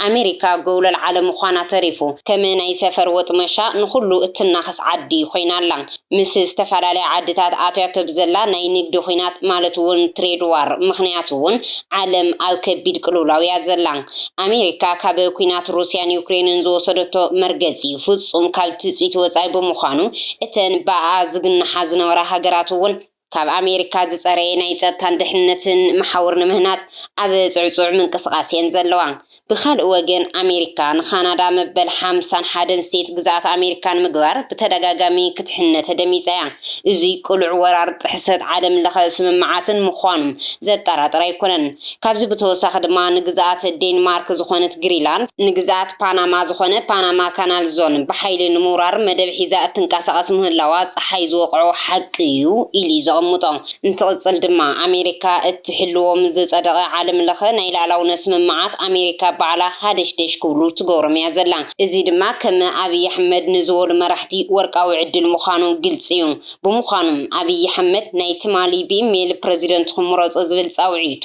ኣሜሪካ ጎውለል ዓለም ምዃና ተሪፉ ከም ናይ ሰፈር ወጥመሻ ንኹሉ እትናኸስ ዓዲ ኮይና ኣላ። ምስ ዝተፈላለያ ዓድታት ኣትያቶ ብዘላ ናይ ንግዲ ኹናት ማለት እውን ትሬድ ዋር ምኽንያት እውን ዓለም ኣብ ከቢድ ቅልውላው እያ ዘላ። ኣሜሪካ ካብ ኲናት ሩስያን ዩክሬንን ዝወሰደቶ መርገፂ ፍፁም ካብ ትፅቢት ወፃኢ ብምዃኑ እተን ብኣኣ ዝግናሓ ዝነበራ ሃገራት እውን ካብ ኣሜሪካ ዝፀረየ ናይ ፀጥታን ድሕንነትን መሓውር ንምህናፅ ኣብ ፅዕፁዕ ምንቅስቓስ እየን ዘለዋ። ብኻልእ ወገን ኣሜሪካ ንካናዳ መበል ሓምሳን ሓደን ስቴት ግዝኣት ኣሜሪካ ንምግባር ብተደጋጋሚ ክትሕነ ተደሚፃ እያ። እዙይ ቅሉዕ ወራር ጥሕሰት ዓለምለኸ ስምምዓትን ምዃኑም ዘጠራጥር ኣይኮነን። ካብዚ ብተወሳኺ ድማ ንግዝኣት ዴንማርክ ዝኾነት ግሪላንድ፣ ንግዝኣት ፓናማ ዝኾነ ፓናማ ካናል ዞን ብሓይሊ ንምውራር መደብ ሒዛ እትንቀሳቐስ ምህላዋ ፀሓይ ዝወቕዖ ሓቂ እዩ ኢሉ እዩ ዘቐምጦ። እንትቕፅል ድማ ኣሜሪካ እትሕልዎ ምስ ዝፀደቐ ዓለም ለኸ ናይ ልኣላውነት ስምምዓት ኣሜሪካ ባዕላ ሃደሽደሽ ክብሉ ትገብሮም እያ ዘላ። እዚ ድማ ከም ኣብይ ኣሕመድ ንዝበሉ መራሕቲ ወርቃዊ ዕድል ምዃኑ ግልፂ እዩ። ብምዃኑ፣ ኣብይ ኣሕመድ ናይ ትማሊ ብኢሜይል ፕረዚደንትኹም ምረፁ ዝብል ፃውዒቱ፣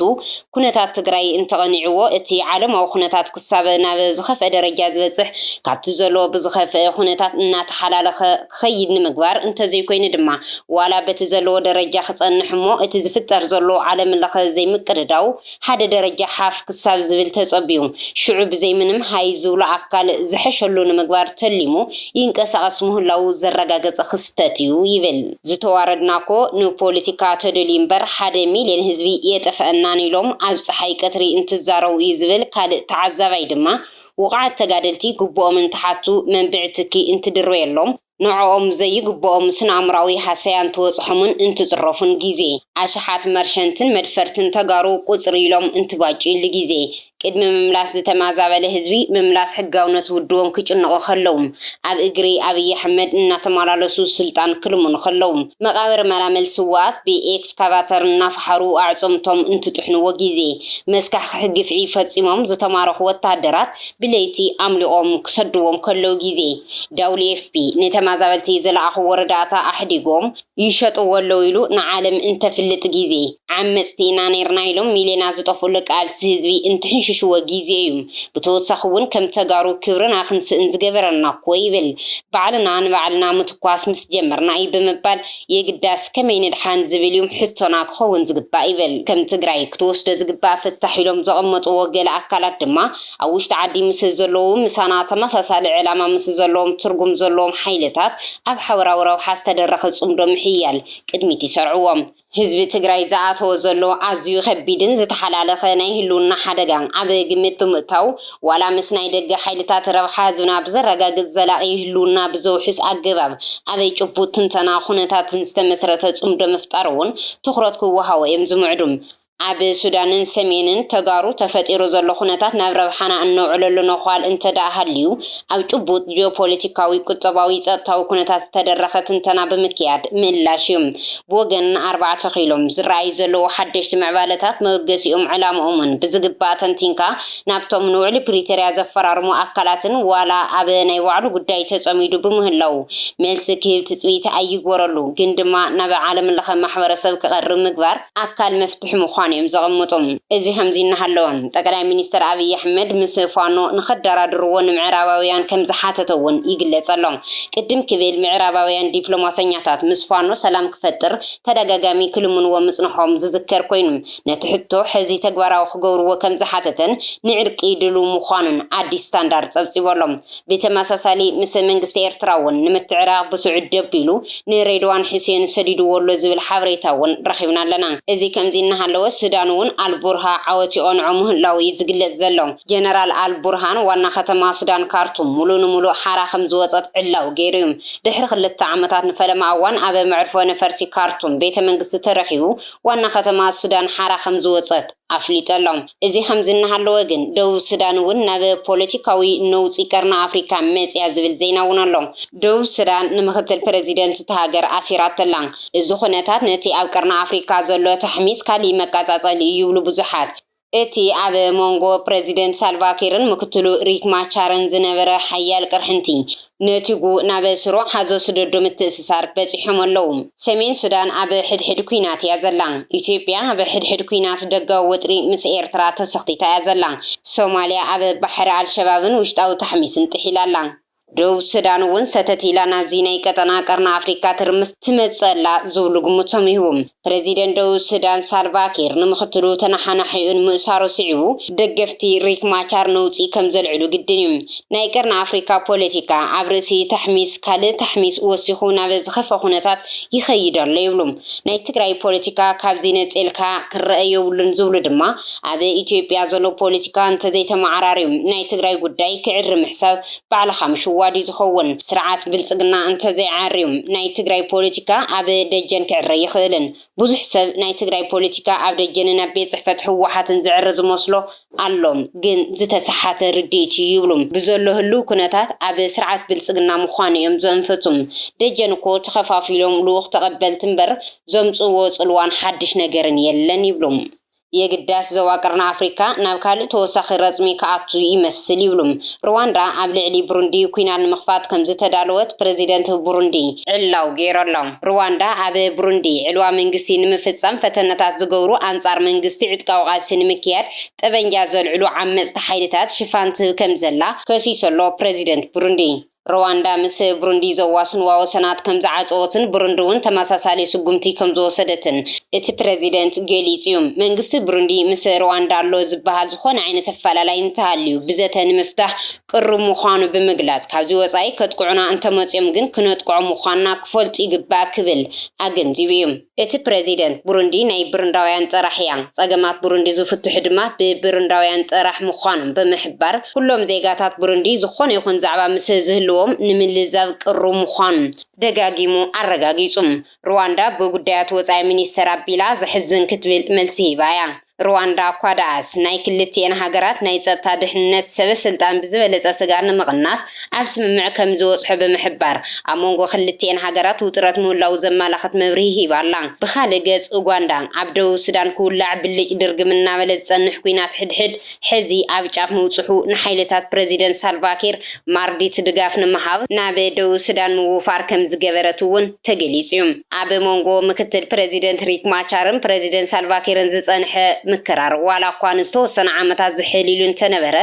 ኩነታት ትግራይ እንተቐኒዕዎ እቲ ዓለማዊ ኩነታት ክሳብ ናብ ዝኸፍአ ደረጃ ዝበፅሕ ካብቲ ዘለዎ ብዝኸፍእ ኩነታት እናተሓላለኸ ክኸይድ ንምግባር እንተዘይኮይኑ ድማ ዋላ በቲ ዘለዎ ደረጃ ክፀንሕ እሞ እቲ ዝፍጠር ዘሎ ዓለምለኸ ዘይምቅድዳው ሓደ ደረጃ ሓፍ ክሳብ ዝብል ተጸብዩ፣ ሽዑ ብዘይ ምንም ሃይ ዝብሎ ኣካል ዝሐሸሉ ንምግባር ተሊሙ ይንቀሳቐስ ምህላዉ ዘረጋገጸ ክስተት እዩ ይብል። ዝተዋረድናኮ ንፖሊቲካ ተደልዩ እምበር ሓደ ሚልዮን ህዝቢ የጠፈኣናን ኢሎም ኣብ ጸሓይ ቀትሪ እንትዛረቡ እዩ ዝብል ካልእ ተዓዛባይ ድማ፣ ውቑዓት ተጋደልቲ ግቡኦም እንትሓቱ መንብዒ ትኪ እንትድርበየሎም፣ ንዕኦም ዘይግብኦም ስነኣምራዊ ሃሰያ እንትበፅሖምን እንትፅረፉን ጊዜ፣ ኣሽሓት መርሸንትን መድፈርትን ተጋሩ ቁፅር ኢሎም እንትባጭዩሉ ጊዜ፣ ቅድሚ ምምላስ ዝተማዛበለ ህዝቢ ምምላስ ሕጋውነት ውድቦም ክጭነቑ ከለው፣ ኣብ እግሪ ኣብይ ኣሕመድ እናተማላለሱ ስልጣን ክልምኑ ከለው፣ መቓብር መላምል ስውኣት ብኤክስካቫተር እናፈሓሩ ኣዕፅምቶም እንትጥሕንዎ ጊዜ፣ መስካሕኽሒ ግፍዒ ፈፂሞም ዝተማረኹ ወታሃደራት ብለይቲ ኣምሊቖም ክሰድዎም ከለው ጊዜ፣ ዳውሊኤፍፒ ንተማዛበልቲ ዝለኣኽዎ ርዳእታ ኣሕዲጎም ይሸጥዎ ኣለው ኢሉ ንዓለም እንተፍልጥ ጊዜ፣ ዓመጽቲ ኢና ነይርና ኢሎም ሚልዮናት ዝጠፍኡሉ ቃልሲ ህዝቢ እንትሕንሽሽዎ ጊዜ እዩ። ብተወሳኺ እውን ከም ተጋሩ ክብርና ክንስእን ዝገበረና እኮ ይብል። ባዕልና ንባዕልና ምትኳስ ምስ ጀመርና እዩ ብምባል የግዳስ ከመይ ንድሓን ዝብል እዩ ሕቶና ክኸውን ዝግባእ ይብል። ከም ትግራይ ክትወስዶ ዝግባእ ፍታሕ ኢሎም ዘቐመጥዎ ገለ ኣካላት ድማ፣ ኣብ ውሽጢ ዓዲ ምስ ዘለዉ ምሳና ተመሳሳሊ ዕላማ ምስ ዘለዎም ትርጉም ዘለዎም ሓይልታት ኣብ ሓበራዊ ረብሓ ዝተደረኸ ፅምዶ ምሕያል ቅድሚት ይሰርዕዎ። ህዝቢ ትግራይ ዝኣተዎ ዘሎ ኣዝዩ ከቢድን ዝተሓላለኸ ናይ ህልውና ሓደጋ ኣብ ግምት ብምእታው ዋላ ምስ ናይ ደገ ሓይልታት ረብሓ ህዝብና ብዘረጋግፅ ዘላቒ ህልውና ብዘውሕስ ኣገባብ ኣብ ጭቡጥ ትንተና ኩነታትን ዝተመስረተ ፅምዶ ምፍጣር እውን ትኹረት ክወሃቦ እዮም ዝምዕዱ። ኣብ ሱዳንን ሰሜንን ተጋሩ ተፈጢሩ ዘሎ ኩነታት ናብ ረብሓና እነውዕለሉ ነዃል እንተድኣ ሃልዩ፣ ኣብ ጭቡጥ ጂኦፖለቲካዊ፣ ቁጠባዊ፣ ጸጥታዊ ኩነታት ዝተደረኸ ትንተና ብምክያድ ምእላሽ እዩ። ብወገን ኣርባዕተ ኪሎ፣ ዝረኣዩ ዘለዉ ሓደሽቲ ምዕባለታት መበገሲኦምን ዕላምኦምን ብዝግባእ ተንቲንካ ናብቶም ንውዕሊ ፕሪቶርያ ዘፈራርሙ ኣካላትን ዋላ ኣብ ናይ ባዕሉ ጉዳይ ተጸሚዱ ብምህላዉ መልሲ ክህብ ትጽቢት ኣይግበረሉ ግን ድማ ናብ ዓለምለኸ ማሕበረሰብ ክቐርብ ምግባር ኣካል መፍትሒ ምዃኑ እዮም ዘቐምጡ። እዚ ከምዚ እናሃለወ፣ ጠቀላይ ሚኒስተር ኣብይ ኣሕመድ ምስ ፋኖ ንኸዳራድርዎ ንምዕራባውያን ከም ዝሓተቶ እውን ይግለጽ ኣሎ። ቅድም ክብል ምዕራባውያን ዲፕሎማሰኛታት ምስ ፋኖ ሰላም ክፈጥር ተደጋጋሚ ክልምንዎ ምጽንሖም ዝዝከር ኮይኑ፣ ነቲ ሕቶ ሕዚ ተግባራዊ ክገብርዎ ከም ዝሓተተን ንዕርቂ ድሉው ምዃኑን ኣዲስ ስታንዳርድ ጸብጺቡ ኣሎ። ብተመሳሳሊ ምስ መንግስቲ ኤርትራ እውን ንምትዕራቕ ብስዑዲ ደቢሉ ንሬድዋን ሑሴን ሰዲድዎ ኣሎ ዝብል ሓበሬታ እውን ረኺብና ኣለና። እዚ ከምዚ እናሃለወ ሱዳን እውን ኣልቡርሃ ዓወት ይቐንዖ ምህላዉ እዩ ዝግለጽ ዘሎ። ጀነራል ኣልቡርሃን ዋና ከተማ ሱዳን ካርቱም ሙሉእ ንሙሉእ ሓራ ከምዝወጸት ዕላዊ ገይሩ እዩ። ድሕሪ ክልተ ዓመታት ንፈለማ እዋን ኣብ መዕርፎ ነፈርቲ ካርቱም ቤተ መንግስቲ ተረኪቡ ዋና ከተማ ሱዳን ሓራ ከምዝወጸት ኣፍሊጡ ኣሎ። እዚ ከምዚ እናሃለወ ግን ደቡብ ሱዳን እውን ናብ ፖለቲካዊ ነውጺ ቀርኒ ኣፍሪካ መጺኣ ዝብል ዜና እውን ኣሎ። ደቡብ ሱዳን ንምኽትል ፕረዚደንት እታ ሃገር ኣሲራቶ ኣላ። እዚ ኩነታት ነቲ ኣብ ቀርኒ ኣፍሪካ ዘሎ ታሕሚስ ካሊእ መቃጻጸሊ እዩ ይብሉ ብዙሓት። እቲ ኣብ ሞንጎ ፕረዚደንት ሳልቫኪርን ምክትሉ ሪክ ማቻርን ዝነበረ ሓያል ቅርሕንቲ ነቲጉ ናብ ስሩዕ ሓዞ ስደዱ ምትእስሳር በጺሖም ኣለዉ። ሰሜን ሱዳን ኣብ ሕድሕድ ኲናት እያ ዘላ። ኢትዮጵያ ኣብ ሕድሕድ ኲናት ደጋዊ ወጥሪ ምስ ኤርትራ ተሰኽቲታ እያ ዘላ። ሶማልያ ኣብ ባሕሪ ኣልሸባብን ውሽጣዊ ታሕሚስን ጥሒላ ኣላ። ደቡብ ሱዳን እውን ሰተት ኢላ ናብዚ ናይ ቀጠና ቀርኒ ኣፍሪካ ትርምስ ትመጽእ ኣላ ዝብሉ ግምቶም ይህቡ። ፕረዚደንት ደቡብ ሱዳን ሳልቫ ኪር ንምኽትሉ ተነሓናሒኡ ንምእሳሩ ስዒቡ፣ ደገፍቲ ሪክ ማቻር ነውጺ ከም ዘልዕሉ ግድን እዩ። ናይ ቀርኒ ኣፍሪቃ ፖለቲካ፣ ኣብ ርእሲ ታሕሚስ ካልእ ታሕሚስ ወሲኹ ናብ ዝኸፍኣ ኩነታት ይኸይድ ኣሎ ይብሉ። ናይ ትግራይ ፖለቲካ ካብዚ ነጺልካ ክረኣ የብሉን ዝብሉ ድማ፣ ኣብ ኢትዮጵያ ዘሎ ፖለቲካ እንተዘይተመዓራርዩ ናይ ትግራይ ጉዳይ ክዕሪ ምሕሳብ ባዕልኻ ምሽዋድዩ ዝኸውን። ስርዓት ብልፅግና እንተዘይዓርዩ ናይ ትግራይ ፖለቲካ ኣብ ደጀን ክዕረ ኣይኽእልን። ብዙሕ ሰብ ናይ ትግራይ ፖለቲካ ኣብ ደጀንን ኣብ ቤት ፅሕፈት ህወሓትን ዝዕረ ዝመስሎ ኣሎ። ግን ዝተሰሓተ ርድኢትዩ ይብሉ። ብዘሎ ህልው ኩነታት ኣብ ስርዓት ብልፅግና ምዃን እዮም ዘንፍቱ። ደጀን እኮ ተኸፋፊሎም ልኡኽ ተቐበልቲ እምበር ዘምፅእዎ ፅልዋን ሓድሽ ነገርን የለን ይብሉ። የግዳስ ዞባ ቀርኒ ኣፍሪካ ናብ ካልእ ተወሳኺ ረፅሚ ክኣቱ ይመስል ይብሉ። ርዋንዳ ኣብ ልዕሊ ብሩንዲ ኲናት ንምኽፋት ከምዝተዳለወት ፕረዚደንት ብሩንዲ። ዕላው ገይሮሎም። ርዋንዳ ኣብ ብሩንዲ ዕልዋ መንግስቲ ንምፍፃም ፈተነታት ዝገብሩ ኣንፃር መንግስቲ ዕጥቃዊ ቃልሲ ንምክያድ ጠበንጃ ዘልዕሉ ዓመፅቲ ሓይልታት ሽፋን ትህብ ከምዘላ ከሲሱ ኣሎ ፕረዚደንት ብሩንዲ። ርዋንዳ ምስ ብሩንዲ ዘዋስንዋ ወሰናት ከም ዝዓጸወትን ብሩንዲ'ውን ተመሳሳሊ ስጉምቲ ከም ዝወሰደትን እቲ ፕረዚደንት ገሊጹ'ዩ። መንግስቲ ብሩንዲ ምስ ርዋንዳ ኣሎ ዝበሃል ዝኾነ ዓይነት ኣፈላላይ እንተሃልዩ ብዘተ ንምፍታሕ ቅሩብ ምዃኑ ብምግላጽ፣ ካብዚ ወጻኢ ከጥቅዑና እንተመጽዮም ግን ክነጥቅዖም ምዃንና ክፈልጡ ይግባእ ክብል ኣገንዚቡ'ዩ። እቲ ፕረዚደንት፣ ቡሩንዲ ናይ ብሩንዳውያን ጥራሕ እያ፣ ጸገማት ቡሩንዲ ዝፍትሑ ድማ ብብሩንዳውያን ጥራሕ ምዃኖም ብምሕባር፣ ኩሎም ዜጋታት ቡሩንዲ ዝኾነ ይኹን ዛዕባ ምስ ዝህልዎም ንምልዛብ ቅሩብ ምዃኑ ደጋጊሙ ኣረጋጊጹ። ሩዋንዳ ብጉዳያት ወጻኢ ሚኒስተር ኣቢላ ዘሕዝን ክትብል መልሲ ሂባ እያ። ሩዋንዳ እኳ ደኣስ፣ ናይ ክልቲኤን ሃገራት ናይ ጸጥታ ድሕንነት ሰበ ስልጣን ብዝበለጸ ስግኣት ንምቕናስ ኣብ ስምምዕ ከም ዝበጽሑ ብምሕባር፣ ኣብ መንጎ ክልቲኤን ሃገራት ውጥረት ምህላዉ ዘመላኽት መብርሂ ሂባ ኣላ። ብኻልእ ገጽ፣ ኡጋንዳ፣ ኣብ ደቡብ ሱዳን ክውላዕ ብልጭ ድርግም እናበለ ዝጸንሕ ኲናት ሕድሕድ፣ ሕዚ ኣብ ጫፍ ምብጽሑ፣ ንሓይልታት ፕረዚደንት ሳልቫኪር ማርዲት ድጋፍ ንምሃብ ናብ ደቡብ ሱዳን ምውፋር ከምዝገበረት'ውን ተገሊጹ'ዩ። ኣብ መንጎ ምክትል ፕረዚደንት ሪክ ማቻርን ፕረዚደንት ሳልቫኪርን ዝጸንሐ ምክራር ዋላ'ኳ ንዝተወሰኑ ዓመታት ዝሕል ኢሉ እንተነበረ፣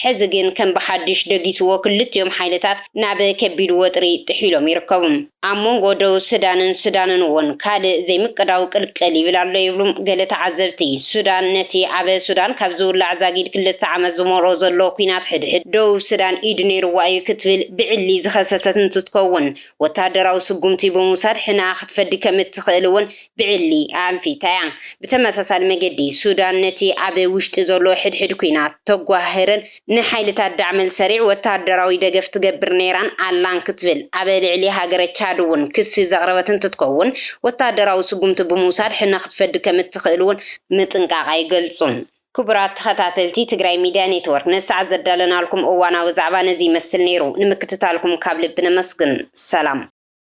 ሕዚ ግን ከም ብሓድሽ ደጊስዎ ክልቲኦም ሓይልታት ናብ ከቢድ ወጥሪ ጥሒሎም ይርከቡ። ኣብ መንጎ ደቡብ ሱዳንን ሱዳንን እውን ካልእ ዘይምቅዳው ቅልቅል ይብል ኣሎ ይብሉ ገለ ተዓዘብቲ። ሱዳን ነቲ ኣብ ሱዳን ካብ ዝውላዕ ዛጊድ ክልተ ዓመት ዝመልኦ ዘሎ ኲናት ሕድሕድ ደቡብ ሱዳን ኢድ ነይሩዋ እዩ ክትብል ብዕሊ ዝኸሰሰት እንትትከውን ወተሃደራዊ ስጉምቲ ብምውሳድ ሕነኣ ክትፈዲ ከም እትኽእል እውን ብዕሊ ኣኣንፊታ እያ። ብተመሳሳሊ መገዲ ሱዳን ነቲ ኣብ ውሽጢ ዘሎ ሕድሕድ ኲናት ተጓህህርን ንሓይልታት ዳዕመል ሰሪዕ ወተሃደራዊ ደገፍ ትገብር ነይራን ኣላን ክትብል ኣብ ልዕሊ ሃገረ ቻድ'ውን ክሲ ዘቕረበት እንትትከውን፣ ወተሃደራዊ ስጉምቲ ብምውሳድ ሕነ ክትፈዲ ከምእትኽእል'ውን ምጥንቃቓ ይገልጹ። ክቡራት ተኸታተልቲ ትግራይ ሚድያ ኔትወርክ፣ ነዚ ሰዓት ዘዳለናልኩም እዋናዊ ዛዕባ ነዚ ይመስል ነይሩ። ንምክትታልኩም ካብ ልቢ ነመስግን። ሰላም።